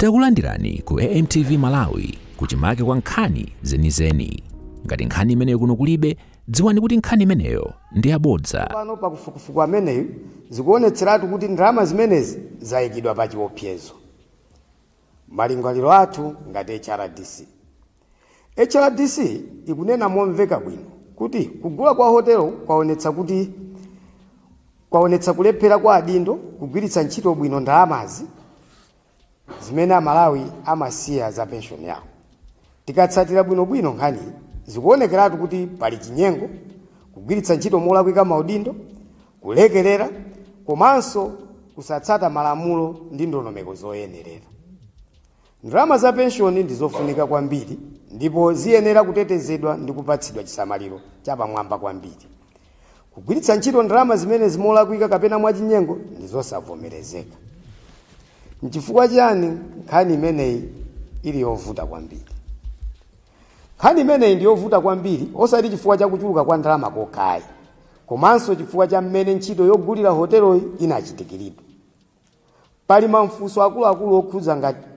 Takulandirani ku AMTV Malawi kuchimake kwa nkhani zenizeni. Ngati nkhani imeneyo kuno kulibe, dziwani kuti nkhani imeneyo ndi yabodza. Pano pakufukufuku ameneyu zikuonetseratu kuti ndalama zimenezi zayikidwa pa chiopsezo. Malingaliro athu ngati HRDC. HRDC ikunena momveka bwino kuti kugula kwa hotelo kwaonetsa kulephera kwa adindo kugwiritsa ntchito bwino ndalamazi Zimene a Malawi amasiya za pension yawo. Tikatsatira bwino bwino nkhaniyi, zikuonekeratu kuti pali chinyengo, kugwiritsa ntchito molakwika maudindo, kulekerera komanso kusatsata malamulo ndi ndondomeko zoyenerera. Ndalama za pension ndi zofunika kwambiri ndipo ziyenera kutetezedwa ndi kupatsidwa chisamaliro chapamwamba kwambiri. Kugwiritsa ntchito ndalama zimenezi molakwika kapena mwachinyengo ndi zosavomerezeka. N'chifukwa chiyani nkhani imeneyi ili yovuta kwambiri? Nkhani imeneyi ndi yovuta kwambiri osati chifukwa cha kuchuluka kwa ndalama kokhayi, komanso chifukwa cha mmene ntchito yogulira hoteloyi inachitikiridwa. Pali mafunso akuluakulu okhudza ngati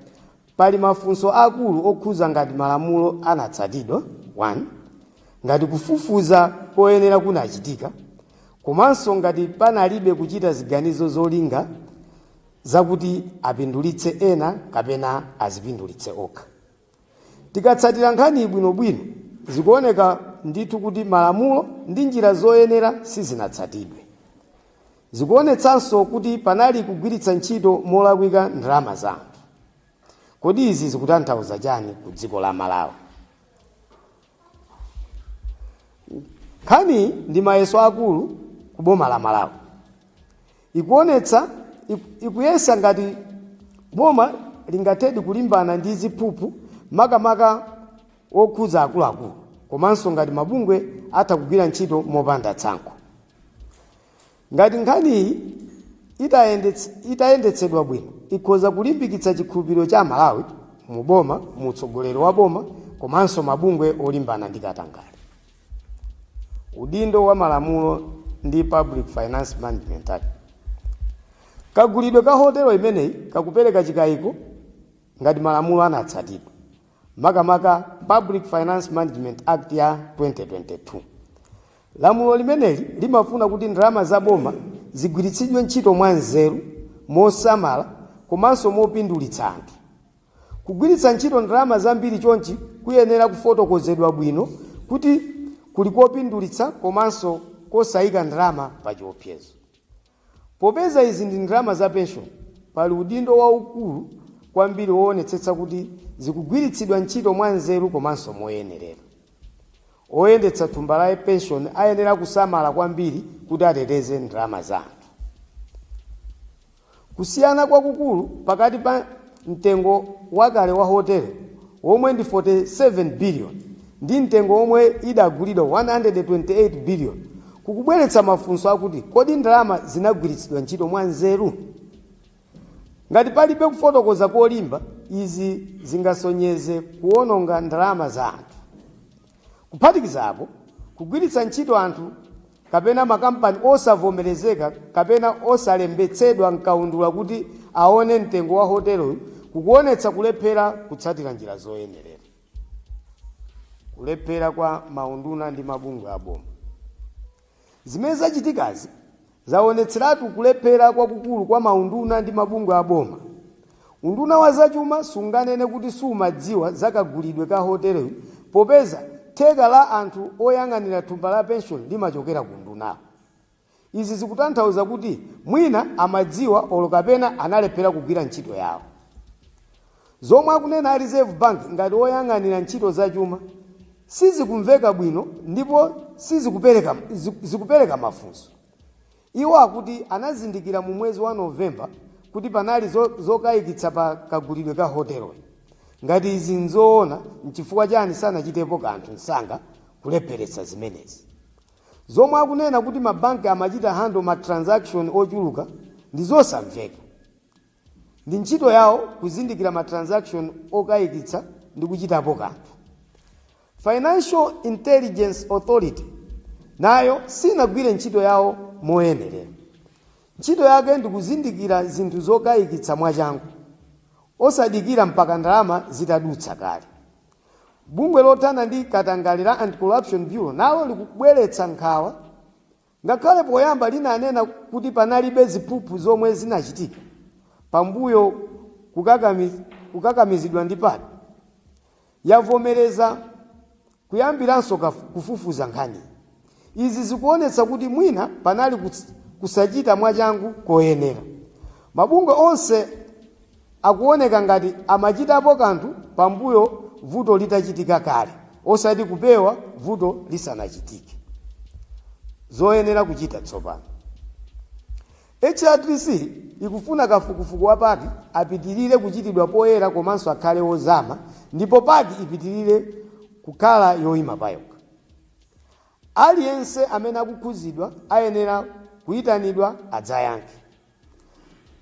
Pali mafunso akulu okhudza ngati malamulo anatsatidwa, 1 ngati kufufuza koyenera kunachitika, komanso ngati panalibe kuchita ziganizo zolinga zakuti apindulitse ena kapena azipindulitse okha. Tikatsatira nkhaniyi bwinobwino, zikuoneka ndithu kuti malamulo ndi njira zoyenera sizinatsatidwe. Zikuonetsanso kuti panali kugwiritsa ntchito molakwika ndalama za anthu. Kodi izi zikutanthauza chani ku dziko la Malawi? nkhani ndi mayeso akulu ku boma la malawi ikuonetsa iku- ikuyesa ngati boma lingathedi kulimbana ndi ziphuphu makamaka okhudza akuluakulu komanso ngati mabungwe atha kugwira ntchito mopanda tsankho Ngati nkhaniyi itayendetsedwa bwino ikhoza kulimbikitsa chikhulupiriro cha Amalawi mu boma, mu utsogoleri wa boma komanso mabungwe olimbana ndi katangale. Udindo wa malamulo ndi Public Finance Management Act. Kagulidwe ka hotelo imeneyi kakupereka chikayiko ngati malamulo anatsatidwa. makamaka public finance management act ya 2022 lamulo limeneli limafuna kuti ndalama za boma zigwiritsidwe ntchito mwanzeru mosamala komanso mopindulitsa anthu kugwiritsa ntchito ndalama zambiri chonchi kuyenera kufotokozedwa bwino kuti kuli kopindulitsa komanso kosayika ndalama pa chiopsezo Popeza izi ndi ndalama za penshoni, pali udindo waukulu kwambiri woonetsetsa kuti zikugwiritsidwa ntchito mwanzeru komanso moyenerera. Oyendetsa thumba la penshoni ayenera kusamala kwambiri kuti ateteze ndalama za anthu. Kusiyana kwakukulu pakati pa. mtengo wakale wa hotelo womwe ndi 47 billion ndi mtengo womwe idagulidwa 128 billion kukubweretsa mafunso akuti kodi ndalama zinagwiritsidwa ntchito mwa nzeru? Ngati palibe kufotokoza kolimba, izi zingasonyeze kuwononga ndalama za anthu. Kuphatikizapo, kugwiritsa ntchito anthu kapena makampani osavomerezeka kapena osalembetsedwa m'kaundula kuti aone mtengo wa hoteloyi kukuonetsa kulephera kutsatira njira zoyenerera. Kulephera kwa maunduna ndi mabungwe aboma. Zimene zachitikazi zaonetseratu kulephera kwakukulu kwa maunduna ndi mabungwe a boma. Unduna wa zachuma sunganene kuti sumadziwa za kagulidwe ka hoteloyi popeza theka la anthu oyang'anira thumba la penshoni limachokera ku undunawu. Izi zikutanthauza kuti mwina amadziwa olo kapena analephera kugwira ntchito yawo. Zomwe akunena a Reserve Bank ngati woyang'anira ntchito za chuma sizikumveka bwino ndipo sizikupereka zikupereka mafunso. Iwo akuti anazindikira mu mwezi wa November kuti panali zokayikitsa pa kagulidwe ka hoteloyi. Ngati izi n'zoona, n'chifukwa chani sanachitepo kanthu msanga kulepheretsa zimenezi? Zomwe akunena kuti mabanki amachita handle ma transaction ochuluka ndi zosamveka. Ndi ntchito yawo kuzindikira ma transaction okayikitsa ndi kuchitapo kanthu. Financial Intelligence Authority nayo sinagwire ntchito yawo moyenerera. Ntchito yake ndi kuzindikira zinthu zokayikitsa mwachangu, osadikira mpaka ndalama zitadutsa kale. Bungwe lothana ndi katangale la Anti-Corruption Bureau nalo likubweretsa nkhawa. Ngakhale poyamba linanena kuti panalibe ziphuphu zomwe zinachitika pambuyo kukakamizidwa ndi PAC, yavomereza kuyambiranso kufufuza nkhaniyi. Izi zikuonetsa kuti mwina panali kusachita mwachangu koyenera. Mabungwe onse. akuoneka ngati amachitapo kanthu pambuyo vuto litachitika kale osati kupewa vuto lisanachitike. Zoyenera kuchita tsopano. HRDC ikufuna kafukufuku wa PAC apitilire kuchitidwa poyera komanso akhale wozama ndipo PAC ipitilire kukhala yoima payokha. Aliyense amene akukhuzidwa ayenera kuitanidwa adzayankhe.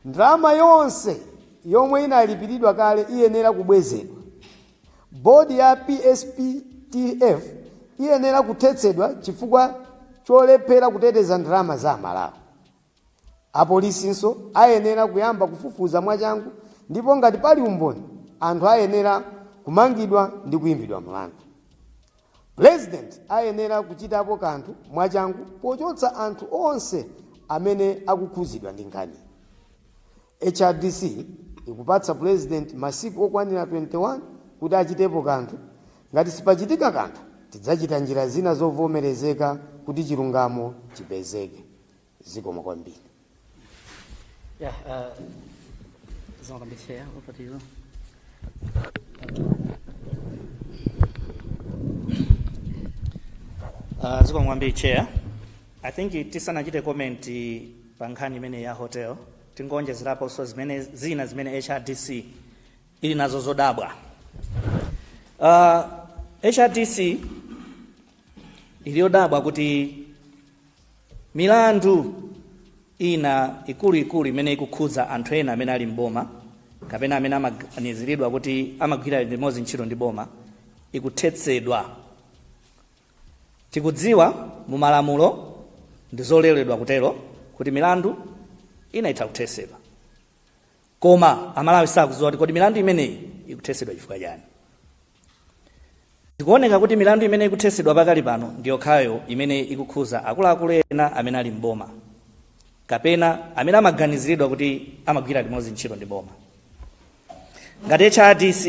Ndalama yonse yomwe inalipiridwa kale iyenera kubwezedwa. Board ya PSPTF iyenera kuthetsedwa chifukwa cholephera kuteteza ndalama za Malawi. Apolisinso ayenera kuyamba kufufuza mwachangu ndipo ngati pali umboni anthu ayenera kumangidwa ndi kuimbidwa mlandu. Pulezidenti ayenera kuchitapo kanthu mwachangu pochotsa anthu onse amene akukhuzidwa ndi nkhaniyi. HRDC ikupatsa Pulezidenti masiku okwanira 21 kuti achitepo kanthu, ngati sipachitika kanthu tidzachita njira zina zovomerezeka kuti chilungamo chipezeke. zikomo kwambiri Yeah, uh, zikomo kwambiri chair. Over to you. Uh, zikomo kwambiri chair i think tisanachite comment pa nkhani imeneyi ya hotel tingoonjezeraponso zimene zina zimene hrdc ili nazo zodabwa uh, hrdc ili yodabwa kuti milandu ina ikuluikulu imene ikukhudza anthu ena amene ali m'boma kapena amene amaganiziridwa kuti amagwira limodzi ntchito ndi boma ikuthetsedwa tikudziwa mu malamulo ndi zololedwa kutero kuti milandu ina itha kuthetsedwa koma amalawi sakudziwa kuti kodi milandu imeneyi ikuthetsedwa chifukwa chani Zikuoneka kuti milandu imene ikuthesedwa pakali pano ndi yokhayo imene ikukhuza akuluakulu ena amene ali m'boma kapena amene amaganiziridwa kuti amagwira limodzi ntchito ndi boma. Ngati HRDC,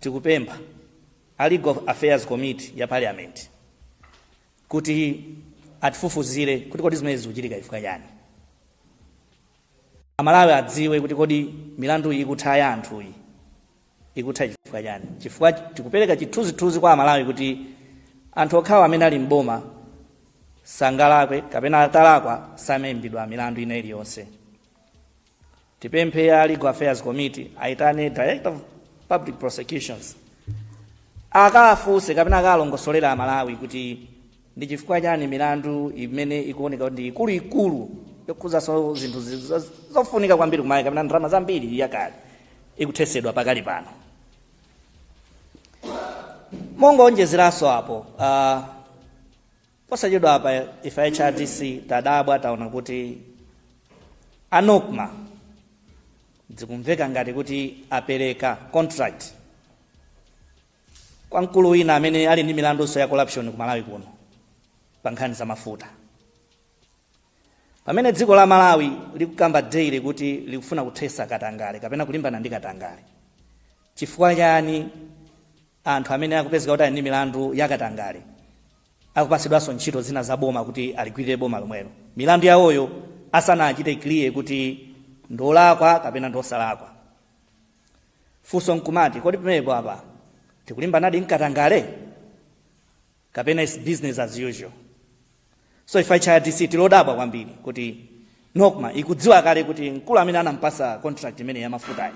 tikupempha a Legal Affairs Committee ya Parliament kuti atifufuzire kuti kodi zimenezi zikuchitika chifukwa chani. Amalawi adziwe kuti kodi milanduyi ikutha ya anthuyi ikutha chifukwa chani? Chifukwa tikupereka chithunzithunzi kwa Amalawi kuti anthu okhawa amene ali m'boma sangalakwe kapena atalakwa samaimbidwa milandu ina iliyonse. Tipemphe ya Legal Affairs Committee aitane Director of Public Prosecutions akaafunse kapena akalongosolera Amalawi kuti ndi chifukwa chani milandu imene ikuoneka kuti ndi ikuluikulu yokhuzanso zinthu zi- zo- zofunika kwambiri komanso kapena ndalama zambiri yakale ikuthetsedwa pakali pano mongoonjezeranso apo uh, posachedwa apa ife hrdc tadabwa taona kuti a Nocma zikumveka ngati kuti apereka contract kwa mkulu wina amene ali ndi milandunso ya corruption ku malawi kuno pa nkhani za mafuta pamene dziko la malawi likukamba daily kuti likufuna kuthetsa katangale kapena kulimbana ndi katangale chifukwa chani anthu amene akupezeka kuti ali ndi milandu ya katangale akupatsidwanso ntchito zina za boma kuti aligwirire boma lomwelo milandu yawoyo asanachite clear kuti ndolakwa kapena ndosalakwa Funso nkumati, kodi pamenepo apa tikulimbanadi ndi katangale kapena is business as usual? So ife HRDC tilodabwa kwambiri kuti Nocma ikudziwa kale kuti mkulu amene anampasa contract imene ya mafutayi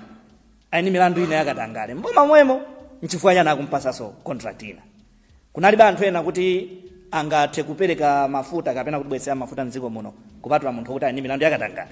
ali ndi milandu ina yakatangale mboma mwemo nchifukwa chani akumpasanso contract ina kunalibe anthu ena kuti angathe kupereka mafuta kapena kutibwetsera mafuta mdziko muno kupatula munthu oti ali ndi milandu yakatangale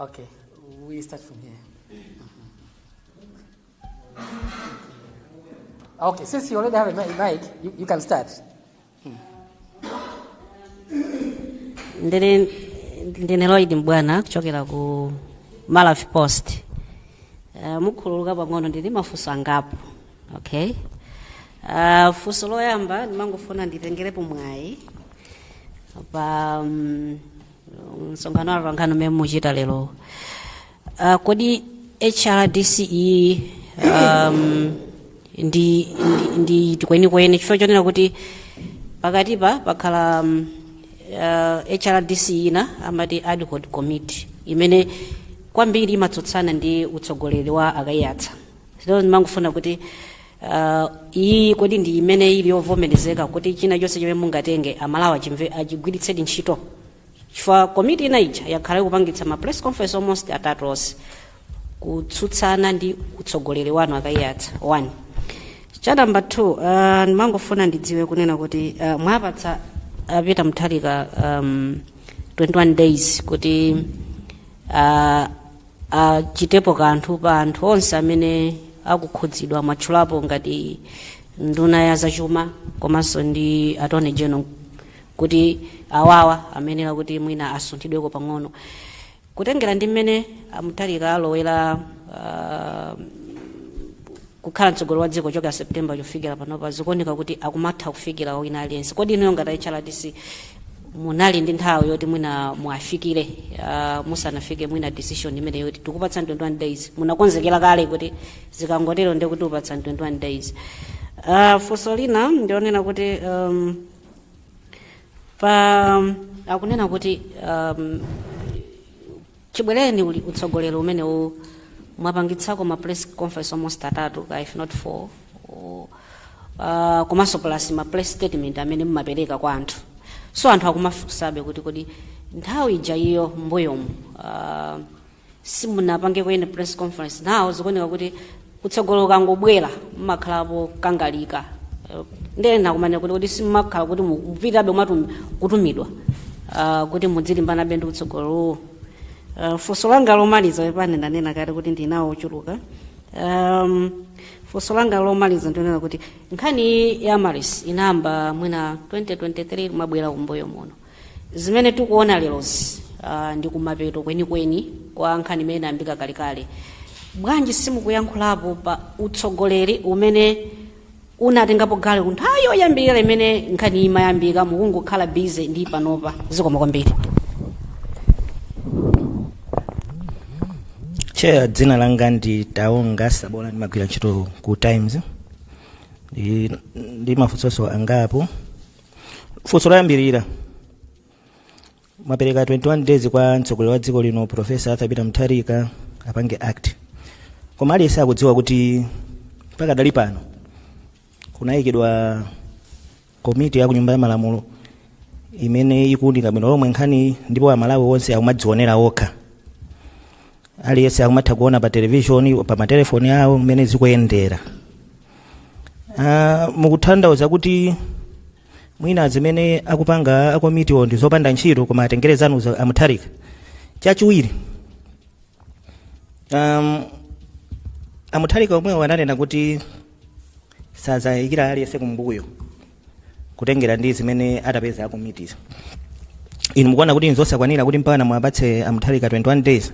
Okay, we start from here. Okay, since you already have a mi- mic, you, you can start. ndili ndine lloyd mbwana kuchokera ku malawi post uh, mukhululuka pang'ono ndili ndi mafunso angapo okay uh, funso loyamba ndimangofuna nditengerepo mwayi pa um, msonkhano wa atolankhani umene muchita lero uh, kodi hrdc iyi um, ndi ndi iti kwenikweni chifukwa chonena kuti pakatipa pakhala um, uh, hrdc ina amati ad hoc committee imene kwambiri imatsutsana ndi utsogoleri wa a Kaiyatsa ndimangofuna kuti Uh, iyi kodi ndi imene ili yovomerezeka kuti china chonse chomwe mungatenge amalawi achimve achigwiritsedi ntchito chifukwa komiti ina ija yakhala ikupangitsa ma press conference almost atatu onse kutsutsana ndi utsogoleri wanu a Kaiyatsa one cha namba 2 uh, ndimangofuna ndidziwe kunena kuti uh, mwapatsa a Peter Mutharika um, 21 days kuti uh, achitepo kanthu pa anthu onse amene akukhudzidwa mwatchulapo ngati nduna ya zachuma komanso ndi attorney general kuti awawa ayenera kuti mwina asunthidweko pang'ono kutengera ndi mmene a Mutharika alowera ah, kukhala mtsogoleri wa dziko kuchokera September kufikira panopa zikuoneka kuti akumatha kufikira wina aliyense. Kodi inuyo ngati a HRDC munali ndi nthawi yoti mwina muwafikire uh, musanafike mwina decision imeneyo yoti tikupatsani 21 days munakonzekera kale kuti zikangotero ndiye kuti upatsa 21 days uh, funso lina ndionena kuti um, pali akunena kuti um, Chibwereni uli utsogoleri umene uno mwapangitsako ma press conference almost atatu kaya if not four O, uh, komanso plus ma press statement amene mumapereka kwa anthu so anthu akumafunsabe kuti kodi nthawi ija iyo mbuyomu uh, simunapange kwene press conference nawo zikuoneka kuti utsogoleri ukangobwera mumakhalapo okangalika Eh, ndiye ena akumanena kuti simumakhala kuti mu- mupitabe mwatum- kutumidwa ah, kuti mudzilimbanabe ndi utsogoleriwo Ah, funso langa lomaliza pepani ndanena kale kuti ndili nawo ochuluka um, funso langa lomaliza ndi onena kuti nkhani ya Amaryllis inayamba mwina 2023 kumabwera kumbuyo muno Zimene tikuona lerozi uh, ndi kumapeto kwenikweni kwa nkhani imene inayambika kalekale. Bwanji simukuyankhulapo pa utsogoleri umene unatengapo gawo ku nthawi yoyambirira imene nkhani imayambika mukungokhala busy ndi panopa zikomo kwambiri Chair, dzina langa ndi Taonga Sabola ndimagwira ntchito ku Times. Ndili ndi mafunso angapo. funso loyambirira mwapereka 21 days kwa mtsogoleri wa dziko lino profesa arthur peter mutharika apange act koma aliyense akudziwa kuti pakadali pano kunayikidwa komiti ya kunyumba ya malamulo imene ikuunika bwino lomwe nkhani ndipo amalawi onse akumadzionera okha aliyense akumatha kuona pa televishoni pa matelefoni awo mmene zikuyendera Ah, mukutanthauza kuti mwina zimene akupanga akomitiwo ndi zopanda ntchito koma atengere zanu za- amutharika chachiwiri um, amutharika omwewo ananena kuti sazayikira aliyense kumbuyo kutengera ndi zimene atapeza akomitiwo inu mukuona kuti nzosakwanira kuti mpaka muwapatse amutharika 21 days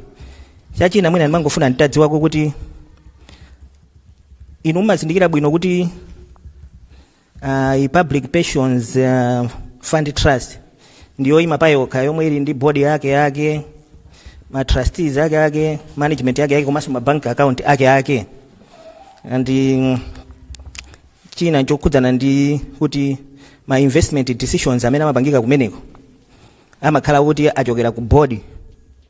chachina mwina ndimangofuna nditadziwako kuti inu mumazindikira bwino kuti uh, i public pensions uh, fund trust ndi yoima payokha yomwe ili ndi board yake yake ma trustees ake ake management yake yake komanso ma bank account ake ake and mm, china chokhudzana ndi kuti ma investment decisions amene amapangika kumeneko amakhala kuti achokera ku board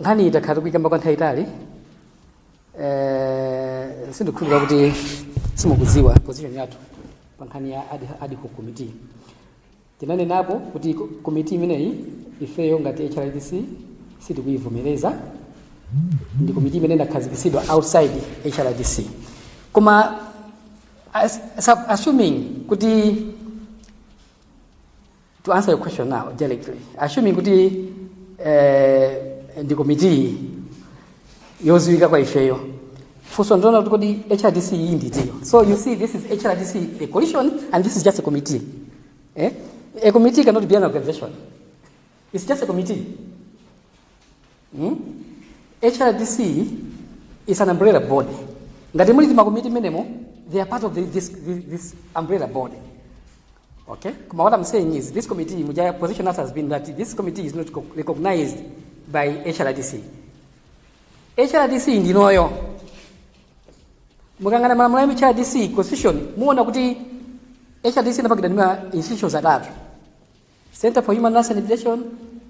nkhani iyi takhala tikuyikamba kwa nthawi yaitali eh, sindikhulupirira kuti simukudziwa position yathu pa nkhani ya ad, ad hoc committee tinanenapo kuti ko- komiti imeneyi ifeyo ngati hrdc sitikuyivomereza ndi komiti imene inakhazikitsidwa outside hrdc koma as, as, assuming kuti to answer your question now directly assuming kuti eh, ndi komitiyi yoziwika kwa ifeyo funso ndona kuti kodi hrdc iyi ndidziyo so you see this is hrdc a coalition and this is just a committee eh? a committee cannot be an organization it's just a committee hmm? hrdc is an umbrella body ngati muli timakomiti menemo they are part of the, this, this, this umbrella body Okay? Koma what I'm saying is this committee, muja position has, has been that this committee is not co- recognized by HRDC. HRDC ndinoyo. Mukayang'ana malamulo ya HRDC constitution, muona kuti HRDC inapangidwa ndi ma institutions atatu. Center for Human Rights and Rehabilitation,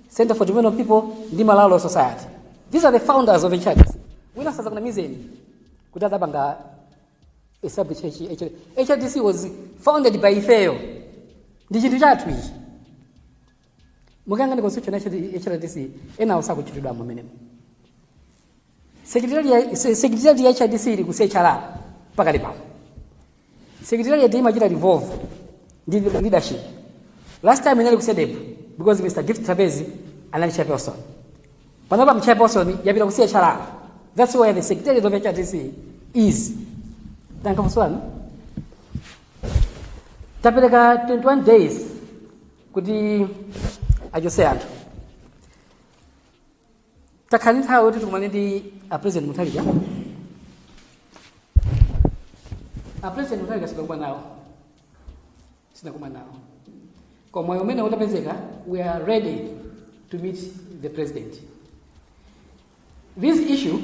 Center for Development of People, ndi Malawi Law Society. These are the founders of HRDC. Wina asadzakunamizeni kuti adapanga hrdc was founded by ifeyo ndi chinthu chathu ichi mukayang'ana constitution ya hrdc enawo sakutchulidwa mumenemo secretariat ya hrdc ili ku chrr pakali pano secretariat imachita revolve ndi leadership last time inali ku cedep because mr gift trapence anali chairperson panopa mchairperson yapita ku chrr that's where the secretariat of hrdc is tankafunswanu tapereka 21 days kuti achotse anthu takhala ndi nthawi yoti tikumane ndi a president mutharika a president mutharika sitinakumane nawo sitinakumane nawo koma mwayi umene utapezeka we are ready to meet the president this issue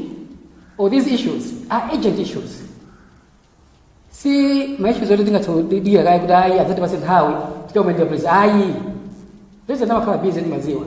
or these issues are urgent issues si ma issues oti tingadikire kaye kuti ayi adzatipatse nthawi tikakumane ndi a president ayi president amakhala busy timadziwa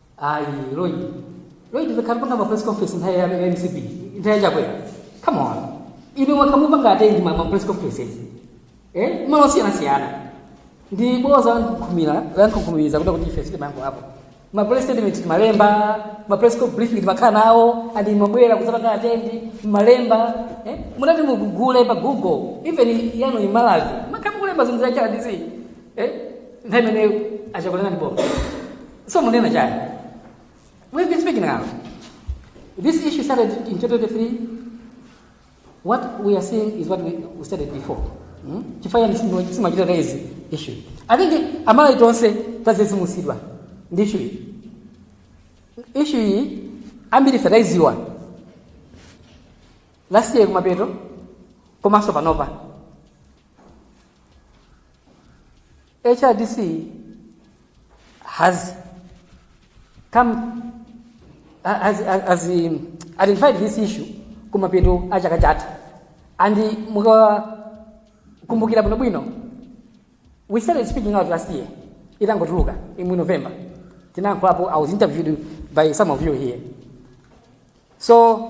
ayi lloyd lloyd takhala tikupanga ma press conference nthawi ya mcp nthawi ya chakwera come on inu mwakhala mukupanga attend ma ma press conferences eh malo osiyanasiyana ndi bodza lamkunkhuniza kunena kuti ife sitimayankhulapo ma press statement timalemba ma press co- briefing timakhala nawo and mumabwera kudzapanga attend mumalemba eh munati mugugule pa google even yano imalazi mwakhala mukulemba zinthu za hrdc eh nthawi imene a chakwera ndi bodza So munena chani? We've been speaking now. This issue started in 2023. What we are seeing is what we, we started before. Hmm? Chifukwa yani simu simu ajira raise issue. I think amala itonse tazezi musidwa. Ndi issue. iyi. Issue iyi ambiri sadaiziwa. Last year kumapeto komanso panopa. HRDC has come has, has, has um, identified this issue kumapeto a chaka chatha and mukakumbukira bwinobwino we started speaking out last year itangotuluka in november tinayankhulapo i was interviewed by some of you here so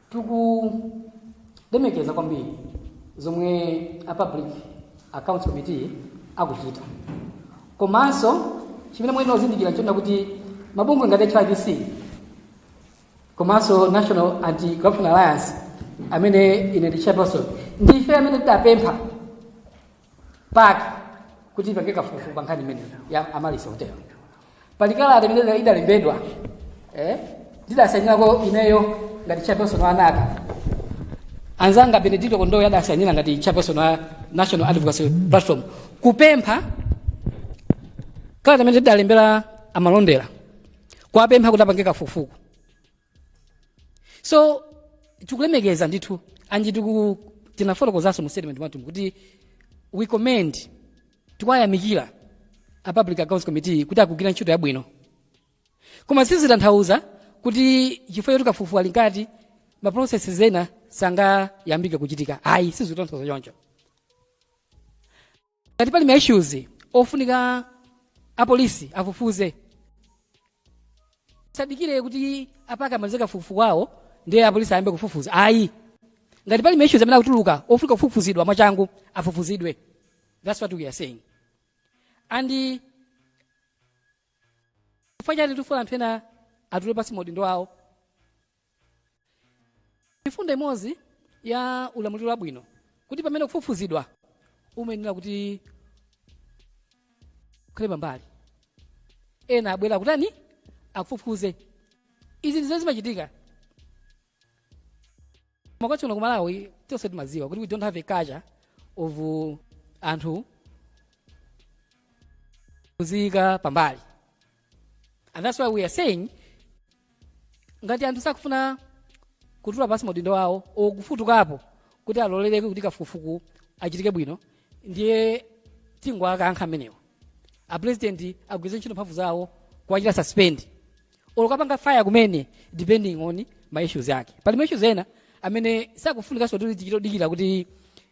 tikulemekeza kwambiri zomwe a public accounts committee akuchita komanso chimene muyenera kuzindikira nchonena kuti mabungwe ngati hrdc komanso national anti corruption alliance amene ine ndi chairperson ndife amene tidapempha pake kuti ipange kafukufuku pa nkhani imeneyi ya Amaryllis Hotel pali kalata imene idalembedwa eh, ndidasayinira ineyo ngati chairperson wa HRDC anzanga Benedicto Kondowe adasayinira ngati chairperson wa national advocacy platform kupempha kalata imene tidalembera a malondera kuwapempha kuti apange kafukufuku so tikulemekeza ndithu and tinafotokozanso mu statement mwathu kuti we commend tikuwayamikira a public accounts committee kuti akugwira ntchito yabwino koma sizitanthauza kuti chifukwa choti kafukufuku ali mkati ma processes ena sangayambike kuchitika ayi sizitanthauza choncho ngati pali ma issues ofunika apolisi afufuze sadikire kuti a PAC amalize kafukufuku wawo ndiye apolisi ayambe kufufuza ayi ngati pali ma issues amene akutuluka ofunika kufufuzidwa mwachangu afufuzidwe that's what we are saying and eh, chifukwa chani tifuna anthu ena atule pansi maudindo awo mfundo imodzi ya ulamuliro wabwino kuti pamene ukufufuzidwa umayenera kuti ukhale pambali ena abwere kutani akufufuze izi ndizo zimachitika mwakuti kuno kumalawi tonse timadziwa kuti we don't have a culture of uh, anthu kuziyika pambali And that's why we are saying ngati anthu sakufuna kutula pansi maudindo awo or kufutukapo kuti alole kuti kafukufuku achitike bwino ndiye tingowakankha anthu amenewo apresident agwiritse ntchito mphamvu zawo kuwachita suspend or kuwapanga fire kumene depending on ma issues ake pali ma issues ena amene sakufunikanso kuti tichitodikira kuti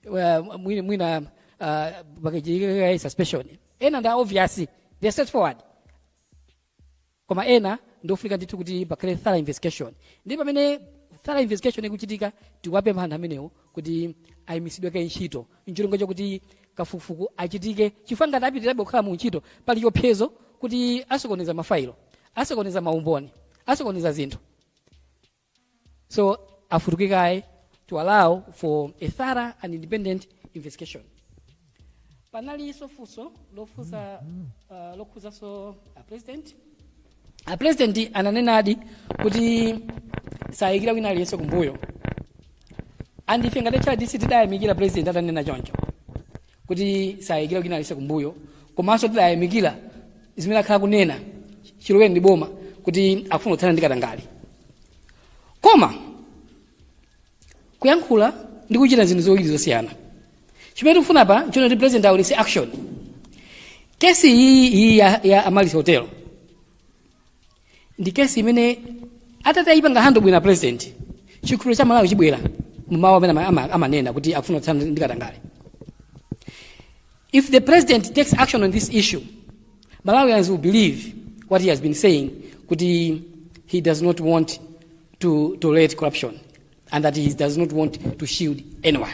uh, mwina, mwina uh, pakachitike suspension ena ndi obvious they are straightforward koma ena ndi ofunika ndithu kuti pakhale thorough investigation ndi pamene thorough investigation ikuchitika tikuwapempha anthu amenewo kuti ayimitsidwe kaye ntchito ncholinga chakuti kafukufuku achitike chifukwa ngati apitirirabe kukhala mu ntchito pali chiopsezo kuti asokoneza mafailo asokoneza maumboni asokoneza zinthu So afutuke kaye to allow for a thorough and independent investigation. Panalinso funso lofunsa uh, lokhudzanso a president. A president ananenadi kuti sayikira ku wina aliyense kumbuyo. And ife ngati HRDC tidayamikira president atanena choncho. kuti sayikira wina aliyense kumbuyo komanso tidayamikira zimene akhala kunena chilowereni m'boma kuti akufuna kuthana ndi katangale koma kuyankhula ndi kuchita zinthu ziwiri zosiyana chimene tikufuna apa nchonena kuti president awonetse action kesi iyi iyi ya, ya amaryllis hotel ndi kesi imene atati ayipanga handle bwino president chikhulupiriro cha amalawi chibwera mmawu amene ama- ama- amanena kuti akufuna kuthana ndi katangale if the president takes action on this issue malawians will believe what he has been saying kuti he does not want to tolerate corruption and that he does not want to shield anyone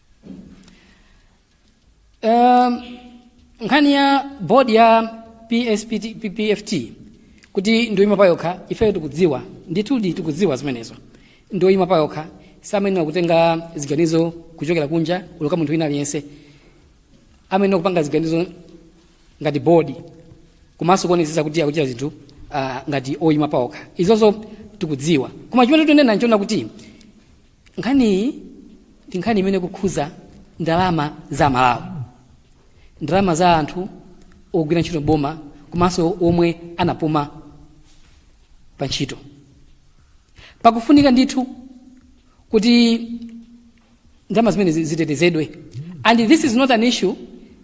um, nkhani ya bodi ya PSPT, ppft kuti ndioima pa yokha ifeyo tikudziwa ndithudi tikudziwa zimenezo ndioima pa yokha samayenera kutenga ziganizo kuchokera kunja olo kwa munthu wina aliyense amayenera kupanga ziganizo ngati bodi komanso kuonetsetsa kuti akuchita zinthu uh, ngati oima pa okha izozo tikudziwa koma chimene tikunena nchonena kuti Nkhaniyi ndi nkhani imene ikukhuza ndalama za aMalawi, ndalama za anthu ogwira ntchito m'boma komanso omwe anapuma pa ntchito. Pakufunika ndithu kuti ndalama zimenezi zitetezedwe and this is not an issue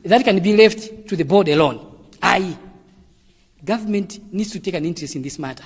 that can be left to the board alone. Ayi, government needs to take an interest in this matter.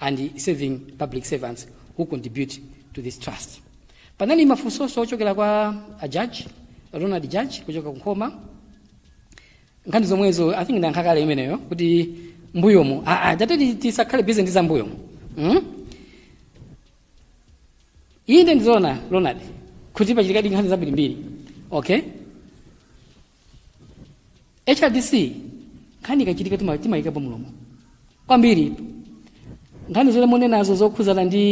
and serving public servants who contribute to this trust. Panali mafunsonso ochokera kwa a judge, Ronald Judge kuchoka ku Nkhoma nkhani zomwezo I think ndayankha kale imeneyo kuti mbuyomu ah, ah, tatati tisakhale busy ndi za mbuyomu mm? inde ndi zoona Ronald kuti pachitikadi nkhani zambirimbiri okay hrdc nkhani ikachitika tima- timayikapo mlomo kwambiri nkhani zomwe munenazo zokhuzana ndi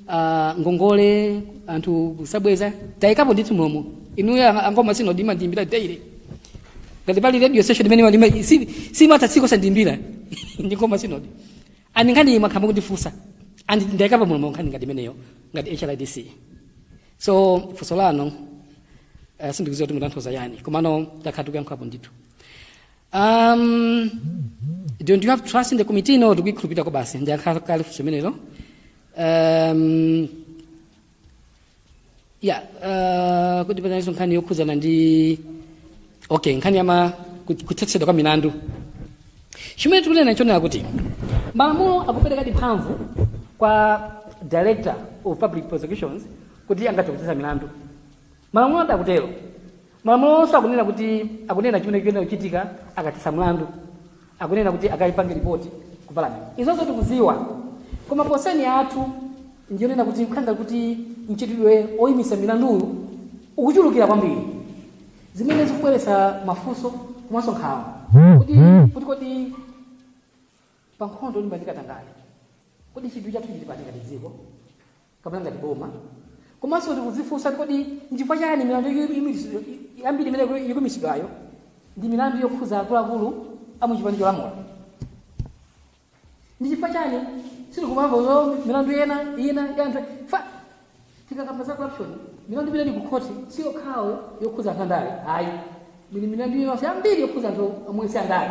ah, ngongole anthu kusabweza tayikapo ndithu mlomo inuyo ang- a nkhoma synod mumandiimbira daily ngati pali radio station imene imalima- si- simatha tsiku osandiimbira ndi nkhoma synod and nkhani iyi mwakhala mukundifunsa and ndaikapo mlomo nkhani ngati imeneyo ngati hrdc so funso lanu uh, sindikuziwa kuti mutanthauza chani komano takhala tikuyankhulapo ndithu um, don't you have trust in the committee no tikuyikhulupirira kwabasi ndayankha kale funso imenelo um, ya uh, kuti panalinso nkhani yokhudzana ndi okay nkhani yama kut- kuthetsedwa kwa milandu chimene tikunena nchonena kuti malamulo akuperekadi mphamvu kwa director of public prosecutions kuti angathe kuthetsa milandu Malamulo adakutero. Malamulo onse akunena kuti akunena chimene chikuyenera kuchitika akathetsa mlandu. Akunena kuti akaipange ripoti ku parliament. Izonso tikuziwa. Koma concern yathu ndiyonena kuti nkhani ya kuti mchitidwe oyimisa milanduyu ukuchulukira kwambiri. Zimene zikubweretsa mafunso komanso nkhawa. Kuti kuti kodi pa nkhondo yolimbana ndi katangale. Kodi chidwi chathu chili pati ngati dziko? kapena ngati boma komanso tikudzifunsa kuti kodi nchifukwa chani milandu yambiri imene ikuimitsidwayo ndi milandu yokhudza akuluakulu a mu chipani cholamula ndi chifukwa chani sitikumamva zo milandu ina ina ya anthu fa tikakamba za corruption milandu imene ili ku khoti si yokhawo yokhudza anthu andale ayi ili milandu yonse yambiri yokhudza anthu omwe si andale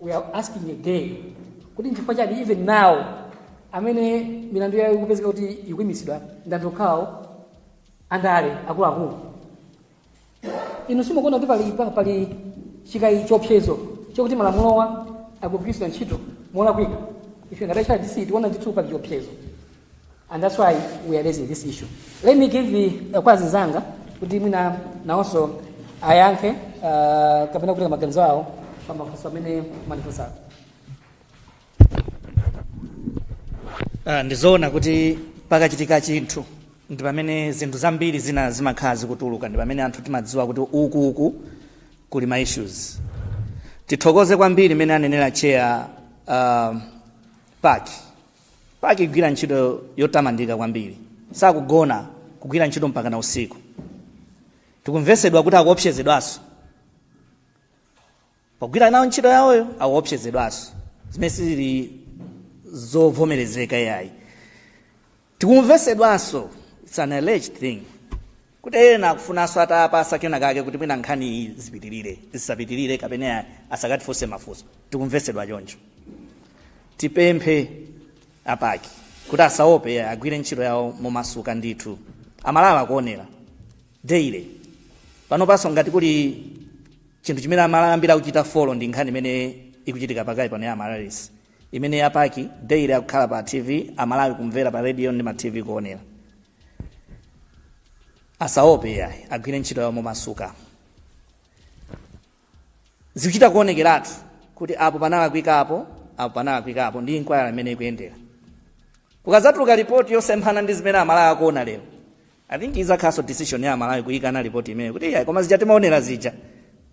we are asking again kuti nchifukwa chani even now amene milandu yawo ikupezeka kuti ikuimitsidwa ndi anthu okhawo andale akuluakulu inu simukuona kuti pali pa- pali chikayi chiopsezo chokuti malamulowa akugwiritsidwa ntchito molakwika ife ngati HRDC tiona ndithu pali chiopsezo And that's why we are raising this issue. Let me give the uh, kwa azinzanga kuti mwina naonso ayankhe uh, kapena kutenga maganizo awo pa mafunso amene mwafunsawo. Ah, ndizoona kuti pakachitika chinthu ndi pamene zinthu zambiri zina zimakhala zikutuluka ndi pamene anthu timadziwa kuti uku uku kuli ma issues tithokoze kwambiri mmene anenera chair uh, PAC PAC ikugwira ntchito yotamandika kwambiri sakugona kugwira ntchito mpaka na usiku tikumvesedwa kuti akuopsezedwanso pogwira nawo ntchito yawoyo akuopsezedwanso zimene sizili zovomerezeka yayi tikumvesedwanso it's an alleged thing kuti ena akufunanso atawapasa kena kake kuti mwina nkhani iyi zipitirire zisapitirire kapena asakatifunse mafunso tikumvesedwa choncho tipemphe a PAC kuti asaope agwire ntchito yawo momasuka ndithu amalawi akuonera daily panopanso ngati kuli chinthu chimene amalawi ambiri akuchita follow ndi nkhani imene ikuchitika pakali pano ya Amaryllis imene a PAC daily akukhala pa tv amalawi kumvera pa radio ndi ma tv kuonera asaope yayi agwire ntchito yawo momasuka zikuchita kuonekeratu kuti apo panalakwika apo apo panalakwikapo ndi inquiry imene ikuyendera kukadzatuluka ripoti yosemphana ndi zimene amalawi akuona lero i think izakhalanso decision ya amalawi kuyikana ripoti imeneyo kuti yayi koma zija timaonera zija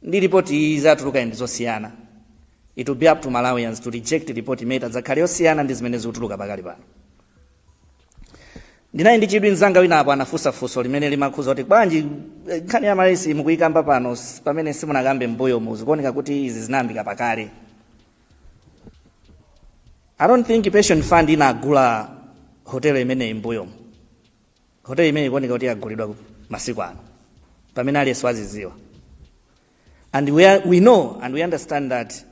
ndi ripoti iyi yatuluka ndi zosiyana it will be up to malawians to reject report imene itadzakhale yosiyana ndi zimene zikutuluka pakali pano ndinali ndi chidwi mzanga wina apo anafunsa funso limene limakhuza kuti bwanji eh, nkhani ya Amaryllis mukuyikamba pano s- pamene simunakambe mbuyomu zikuoneka kuti izi zinayambika pakale i don't think pension fund inagula hotelo imeneyi mbuyomu hotelo imeneyi ikuoneka kuti yagulidwa masiku ano pamene aliyense waziziwa and we, are, we know and we understand that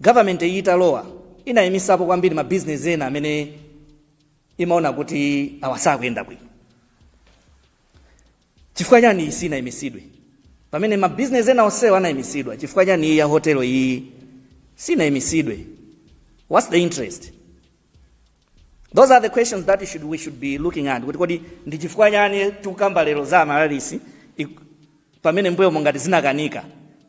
government iyi italowa inayimisapo kwambiri mabizinesi ena amene imaona kuti awa sakuyenda bwino chifukwa chani iyi sinayimisidwe pamene mabizinesi ena onsewa anayimisidwa chifukwa chani iyi ya hotelo iyi sinayimisidwe what's the interest those are the questions that we should, we should be looking at kuti kodi ndi chifukwa chani tikukamba lero za Amaryllis ik- pamene mbuyomu ngati zinakanika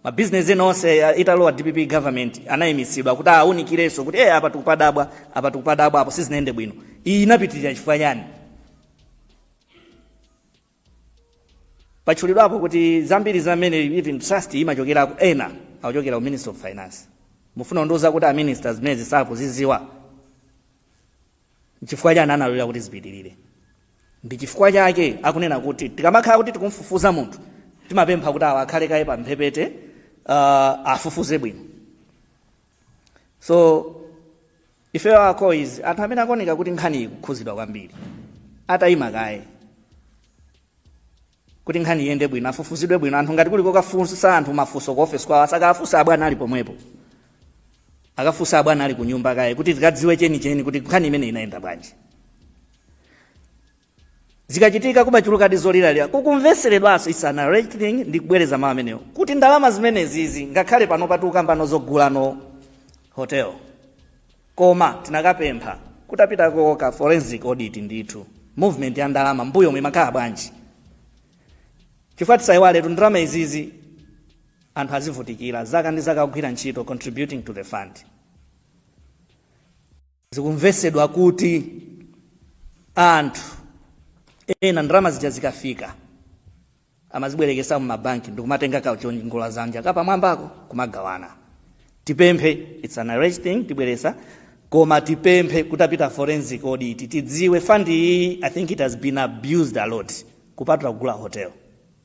mabizinesi ena onse uh, italowa dpp government anayimitsidwa kuti awunikirenso kuti eh apa tikupadabwa apa tikupadabwa apo sizinayende bwino iyi inapitirira chifukwa chani patchulidwapo kuti zambiri za mmene even trust imachokerako ena akuchokera ku ministry of finance mufuna kundiuza kuti aminister zimenezi sakuziziwa nchifukwa chani analolera kuti zipitirire ndi chifukwa chake akunena kuti tikamakhala kuti tikumfufuza munthu timapempha kuti awa akhale kaye pa mphepete uh, afufuze bwino so Ifeyo our call is anthu amene akuoneka kuti nkhaniyi ikukhuzidwa kwambiri atayima kaye kuti nkhani iyende bwino afufuzidwe bwino anthu ngati kuli kokafunsa anthu mafunso ku office kwawo asakafunsa abwana ali pomwepo akafunsa abwana ali kunyumba kaye kuti tikadziwe chenicheni kuti nkhani imeneyi inayenda bwanji zikachitika kumachulukadi zoliralira kukumveseredwanso it's an alleged thing ndikubwereza mawu amenewo kuti ndalama zimenezizi ngakhale panopa tukambano zogulano hotel koma tinakapempha kutapitako ka forensic audit ndithu movement ya ndalama mbuyomu imakhala bwanji chifukwa tisayiwaletu ndalama izizi anthu azivutikira zaka ndi zaka kugwira ntchito contributing to the fund Zikumvesedwa kuti anthu ena ndalama zija zikafika amazibwerekesa mu mabanki ndikumatenga kachiongola dzanja kapamwambako kumagawana. Tipemphe it's an alleged thing tibwereza koma tipemphe kutapita forensic audit tidziwe fund iyi I think it has been abused a lot kupatula kugula hotel.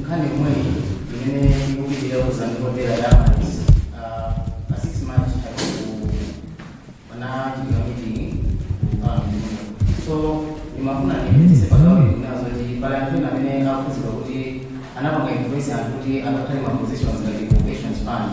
nkhani yomweyi imene ikupitira kuzani hotela ya Amaryllis pa 6 march panachitika meeting kukamino so ndimafuna ndipitise pagawo inazo kuti pali anthu ena amene akukhuzidwa kuti anapanga influence anthu kuti akakhale ma positions ngati pensions fund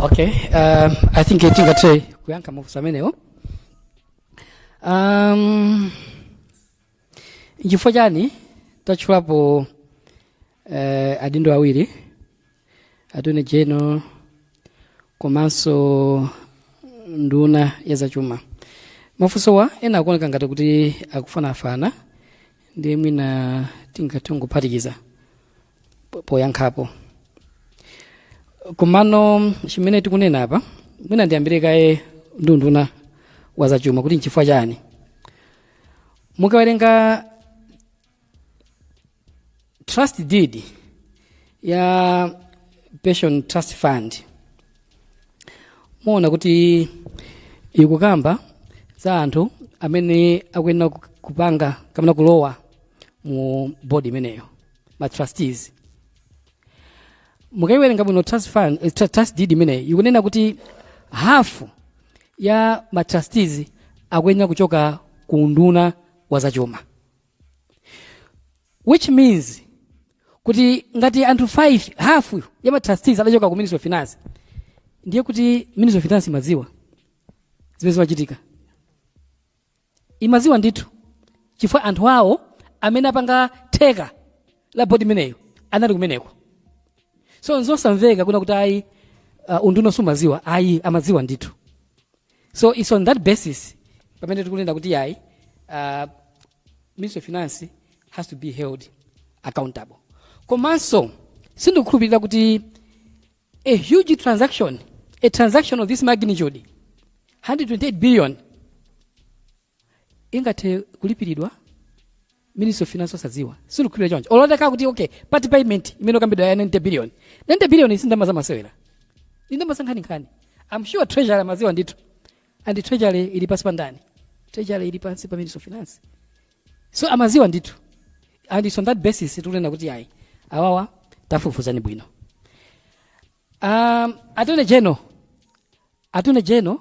okay um, i think tingathe kuyankha mafunso amenewo um, nchifukwa chani tatchulapo uh, adindo awiri attorney general komanso nduna ya zachuma mafunsowa ena akuoneka ngati kuti akufanafana ndiye mwina tingathe kuphatikiza po- poyankhapo komano chimene tikunena apa mwina ndiyambire kaye ndi unduna wa zachuma kuti nchifukwa chani mukawerenga trust deed ya pension trust fund muona kuti ikukamba za anthu amene akuyenera ku- kupanga kapena kulowa mu bodi imeneyo ma trustees mukaiwerenga bwino trust fund eh, tru- trust deed imeneyi ikunena kuti hafu ya ma trustees akuyenera kuchoka ku unduna wa zachuma which means kuti ngati anthu 5 hafu ya ma trustees adachoka ku ministry of finance ndiye kuti ministry of finance imadziwa zimene zimachitika imaziwa ndithu chifukwa anthu awo amene apanga theka la bodi imeneyo anali kumeneko so nzosamveka kunena kuti ayi uh, unduna sumaziwa ayi amaziwa ndithu so its on that basis pamene tikunena kuti ayi uh, ministry of finance has to be held accountable komanso sindikukhulupirira kuti a huge transaction, a transaction of this magnitude, 128 billion, ingathe kulipiridwa ministry of finance osadziwa sindikukhulupirira choncho olo titakamba kuti okay part payment imene ikukambidwa ya 90 billion 90 billion si ndalama zamasewera ndi ndalama zankhaninkhani i'm sure treasury amadziwa ndithu and treasury ili pansi pa ndani treasury ili pansi pa ministry of finance so amaziwa ndithu and it's on that basis tikunena kuti ayi awawa tafufuzani bwino um, attorney general attorney general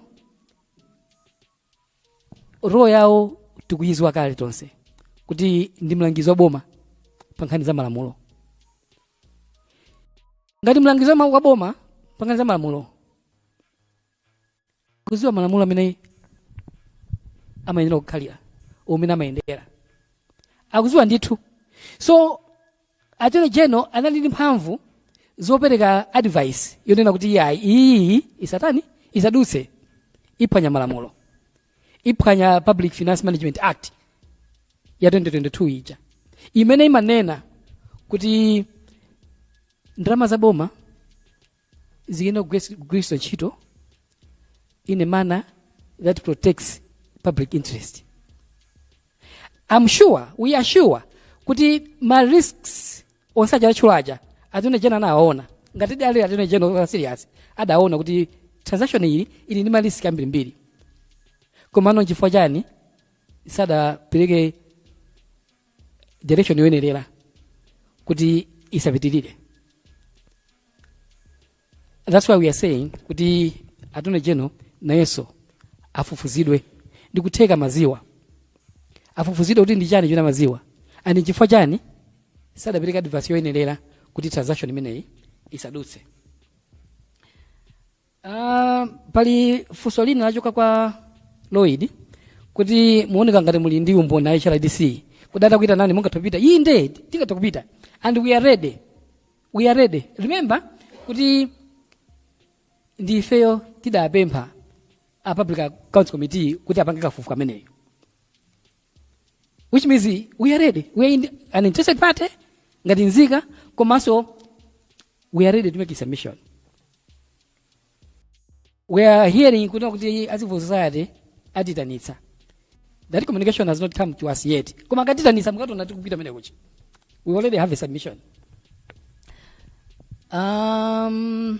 role yawo tikuyiziwa kale tonse kuti ndi mlangizi wa boma pa nkhani za malamulo ngati mlangizi wa ma- wa boma pa nkhani za malamulo akuziwa malamulo mmene amayenera kukhalira mmene amayendera akuziwa ndithu so attorney general anali ndi mphamvu zopereka advice yonena kuti iyayi iyi isatani isadutse iphwanya malamulo iphwanya public finance management act ya 2022 ija imene imanena kuti ndalama za boma ziyenera kugwiritsi- kugwiritsidwa ntchito in a manner that protects public interest am sure we are sure kuti ma risks onse aja atchula aja attorney general anawaona ngati adali attorney general okhala serious adaona kuti transaction iyi ili ndi ma risk ambirimbiri komano nchifukwa chani sadapereke direction yoyenerera kuti isapitirire that's why we are saying kuti attorney general nayenso afufuzidwe ndi kutheka amaziwa afufuzidwe kuti ndi chani chimene amaziwa and chifukwa chani sadapereke advice yoyenerera kuti transaction imeneyi isadutse Ah, pali funso lina lachoka kwa Lloyd kuti muoneka ngati muli ndi umboni a HRDC kuti atakuitanani mungathe kupita inde tingathe kupita and we are ready we are ready remember kuti ndi ifeyo tidapempha a public accounts committee kuti apange kafukufuku ameneyo which means we are ready we are in an interested party ngati nzika komanso we are ready to make a submission we are hearing kuti kuti a civil society atitanitsa that communication has not come to us yet koma akatitanitsa mukationa tikupita mene kuchi we already have a submission um,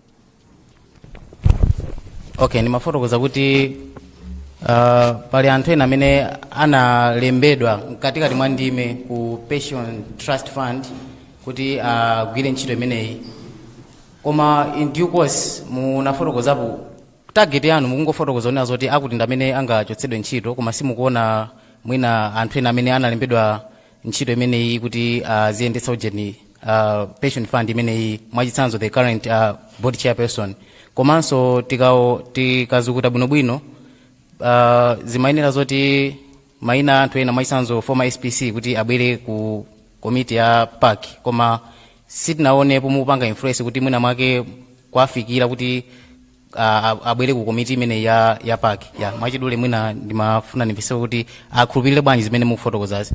okay mumafotokoza kuti uh, pali anthu ena amene analembedwa mkatikati mwa ndime ku pension trust fund kuti agwire uh, ntchito imeneyi koma in due course munafotokozapo target yanu mukungofotokoza kunena zoti akuti ndi amene angachotsedwe ntchito koma simukuona mwina anthu ena amene analembedwa ntchito imeneyi kuti aziyendetsa uh, ujeni uh, pension fund imeneyi mwachitsanzo the current uh, board chairperson komanso tikau- tikazukuta bwinobwino uh, zimayenera zoti maina anthu ena mwachitsanzo former spc kuti abwere ku komiti ya PAC koma sitinaonepo mukupanga influence kuti mwina mwake kwafikira kuti a- a- abwere ku komiti imene ya ya PAC ya mwachidule mwina ndimafuna ndimvese kuti akhulupirire bwanji zimene mukufotokozazi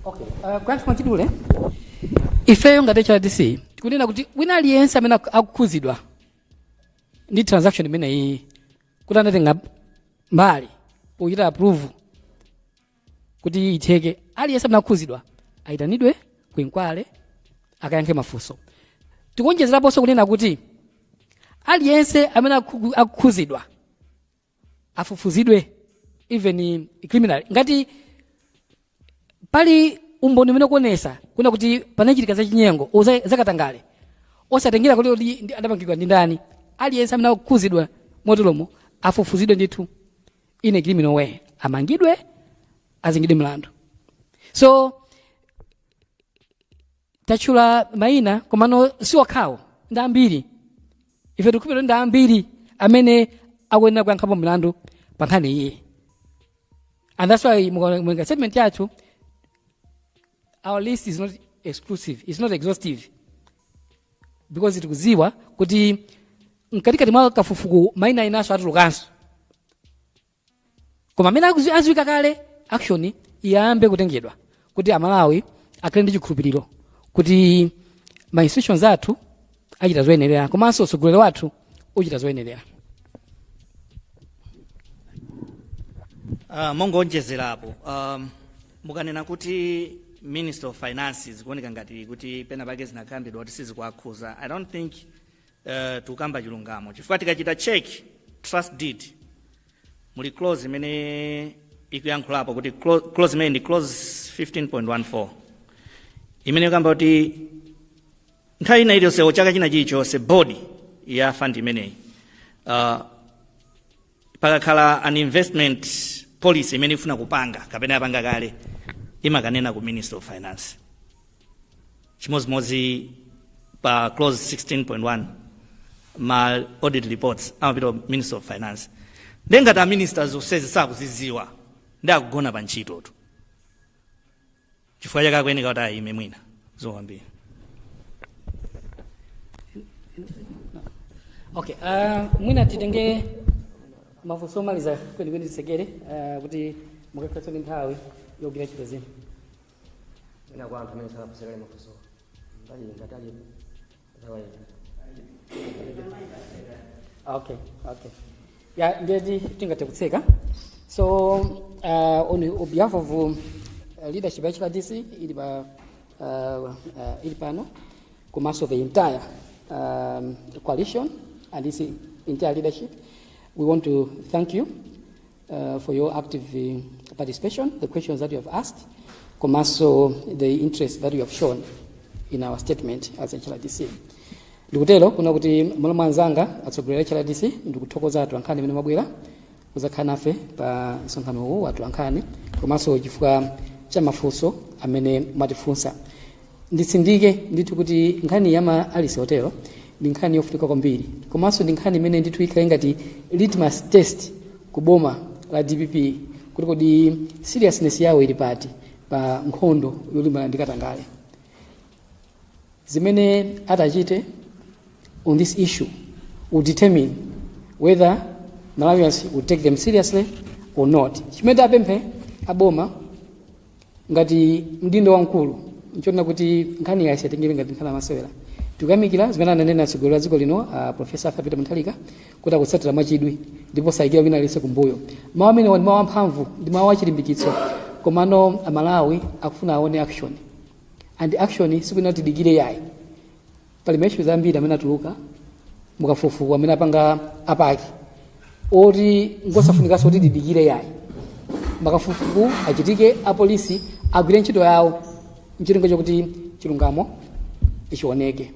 Uh, kuyankha mwachidule ifeyo ngati hrdc tikunena kuti wina aliyense amene aku- akukhuzidwa ndi transaction imeneyi kuti anatenga mbali pochita approve kuti itheke aliyense amene akhudzidwa ayitanidwe ku inquiry akayankhe mafunso tikuonjezeraponso kunena kuti aliyense amene akhu- akhudzidwa afufuzidwe even criminal ngati pali umboni umene ukuonesa kunena kuti panachitika zachinyengo o za- zakatangale osatengera kuti kuti ndi- adapangidwa ndi ndani aliyense amene akhudzidwa moteromo afufuzidwe ndithu in a criminal way amangidwe azengedwe mlandu so tatchula maina komano si okhawo ndi ambiri ife tikukhulupirira ndi ambiri amene akuyenera kuyankhapo mlandu pa nkhani iyi and that's why mukaoneka statement yathu our list is not exclusive it's not exhaustive because tikudziwa kuti mkatikati mwa kafukufuku maina inanso atulukanso koma amene akuzi- aziwika kale action iyambe kutengedwa kuti amalawi akhale ndi chikhulupiriro kuti ma institutions athu achita zoyenerera komanso utsogoleri wathu uchita zoyenerera Uh, mongoonjezerapo um, mukanena kuti minister of finance zikuoneka ngati kuti pena pake zinakambidwa kuti sizikuakhuza i don't think uh, tikukamba chilungamo chifukwa tikachita check trust deed muli clause imene ikuyankhulapo kuti clo- clause imene ndi clause 15.14 imene ikamba kuti Nthawi ina iliyonse chaka china chilichonse bodi ya fund imeneyi uh, pakakhala an investment policy imene ifuna kupanga kapena yapanga kale imakanena ku ministry of finance chimodzimodzi pa clause 16.1 ma audit reports amapita ku ministry of finance ndengati a minister zonsezi sakuziziwa ndi akugona pa ntchitotu chifukwa chake akuyeneka kuti ayime mwina zikomo kwambiri okay uh, mwina titenge mafunso omaliza kwenikweni titsekere uh, kuti mukakhalenso ndi nthawi yogwira ntchito zina ina kwa anthu amene sanafunse kale mafunso mbali ngati alipo Nthawi yatha. okay okay ya ndiyeti tingathe kutseka so uh, on on behalf of um, uh, leadership ya HRDC ili pa uh, uh, ili pano komanso the entire um, coalition and this entire leadership we want to thank you uh, for your active uh, participation, the questions that you have asked, komanso the interest that you have shown in our statement as HRDC. Ndikutero kuna kuti mmalo mwa anzanga atsogoleri a HRDC ndikuthokoza atolankhani amene mwabwera kuzakhala nafe pa msonkhano uwu wa atolankhani komanso chifukwa cha mafunso amene mwatifunsa. Nditsindike ndithu kuti nkhani ya Amaryllis Hotel ndi nkhani yofunika kwambiri komanso ndi nkhani imene ndithu ikhale ngati litmus test ku boma la dpp kuti kodi seriousness yawo ili pati pa nkhondo yolimbana ndi katangale zimene atachite on this issue will determine whether malawians will take them seriously or not chimene tipemphe aboma ngati mdindo wamkulu nchonena kuti nkhani iyi asaitengere ngati nkhani yamasewera tikuyamikira zimene ananena atsogoleri a dziko lino a profesa arthur peter mutharika kuti akutsatira mwachidwi ndipo sayikira wina aliyense kumbuyo mawu amenewa ndi mawu amphamvu ndi mawu achilimbikitso komano amalawi akufuna aone action and action sikunena kuti tidikire yayi pali maishu zambiri amene atuluka mukafukufuku amene apanga a PAC oti ngosafunikanso kuti tidikire yayi makafukufuku achitike apolisi agwire ntchito yawo ncholinga chakuti chilungamo ichioneke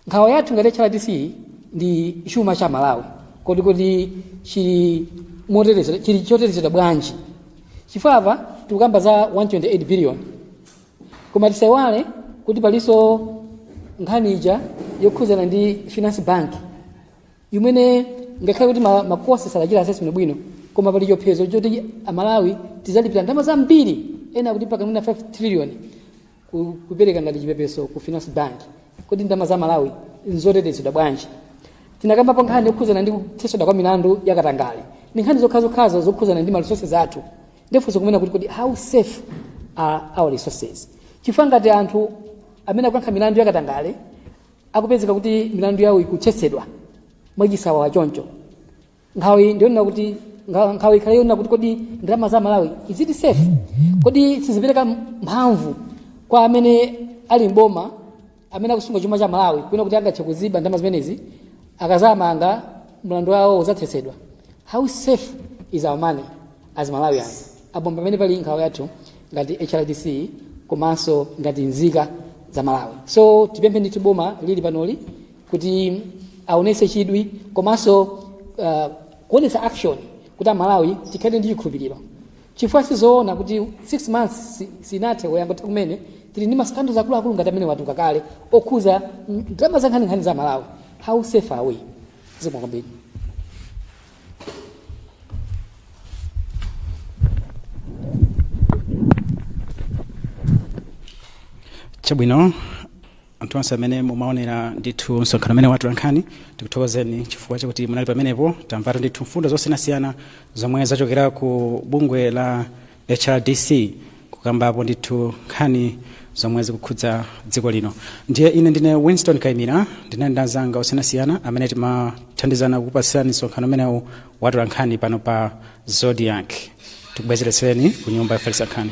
nkhawa yathu ngati hrdc ndi chuma cha malawi kodi kodi chili motetezedwa chili chotetezedwa bwanji chifukwa apa tikukamba za 128 billion koma tisaiwale kuti palinso nkhani ija yokhudzana ndi finance bank imene ngakhale kuti ma- makhothi sanachite assessment bwino koma pali chiopsezo choti amalawi tizalipira ndalama zambiri ena akuti mpaka mwina 5 trillion ku- kupereka ngati chipepeso ku finance bank kodi ndalama za malawi nzotetezedwa bwanji tinakambapo nkhani yokhudzana ndi kutheswa kwa milandu yakatangale ndi nkhani zokhazokhazo zokhudzana ndi ma resources athu ndifunso kunena kuti kodi how safe are our resources chifukwa ngati anthu amene akuyankha milandu yakatangale akupezeka kuti milandu yawo ikuthetsedwa mwachisawawa choncho nkhawa ndiyonena kuti nkha- nkhawa ikhale yonena kuti kodi ndalama za malawi is it safe kodi sizipereka mphamvu kwa amene ali mboma amene akusunga chuma cha Malawi kunena kuti angathe kuziba ndalama zimenezi akazamanga mlandu wawo uzathetsedwa how safe is our money as Malawians apo pamene pali nkhawa yathu ngati HRDC komanso ngati nzika za Malawi so tipemphe ndithu boma lili panoli kuti aonese chidwi komanso uh, kuonesa action kuti amalawi tikhale ndi chikhulupiriro chifukwa sizoona kuti 6 months si- sinathe wangotha kumene tili ndi masikandals akuluakulu ngati amene watuluka kale okhuza mm, ndalama zankhaninkhani za malawi how safe are we zikomo kwambiri chabwino anthu onse amene mumaonera ndithu msonkhano umenewu wa atolankhani tikuthokozeni chifukwa chakuti munali pamenepo tamvatu ndithu mfundo zosiyanasiyana zomwe zachokera ku bungwe la hrdc kukambapo ndithu nkhani zomwe zikukhudza dziko lino ndiye ine ndine winston kaimira ndinali ndi anzanga osiyanasiyana amene timathandizana kukupatsirani msonkhano umenewu wa atolankhani pano pa zodiak tikubwezeretsereni ku nyumba yofalitsa nkhani